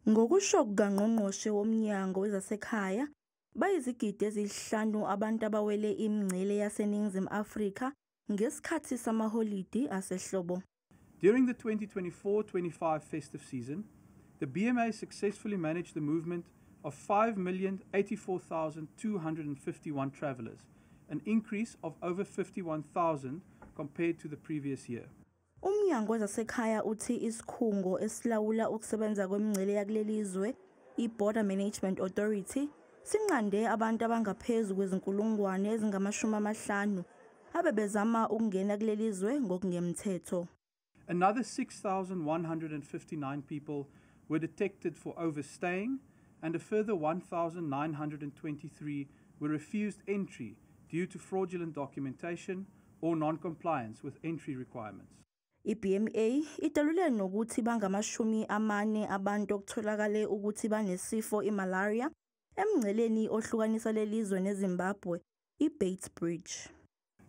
Ngokusho kukangqongqoshe womnyango wezasekhaya, bayizigidi ezihlanu abantu abawele imingcele yaseNingizimu Afrika ngesikhathi samaholidi asehlobo. During the 2024-25 festive season, the BMA successfully managed the movement of 5,084,251 travellers, an increase of over 51,000 compared to the previous year. UMnyango wezaseKhaya uthi isikhungo esilawula ukusebenza kwemingcele yakuleli zwe, i-Border Management Authority, sinqande abantu abangaphezu kwezinkulungwane ezingamashumi amahlanu abebezama ukungena kuleli zwe ngokungemthetho. Another 6,159 people were detected for overstaying and a further 1,923 were refused entry due to fraudulent documentation or non-compliance with entry requirements. I-BMA idalule nokuthi bangamashumi amane abantu okutholakale ukuthi banesifo imalaria emngceleni ohlukanisa lelizwe neZimbabwe, iBates Bridge.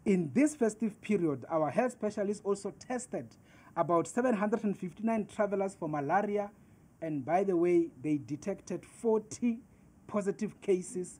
In this festive period, our health specialists also tested about 759 travelers for malaria and by the way, they detected 40 positive cases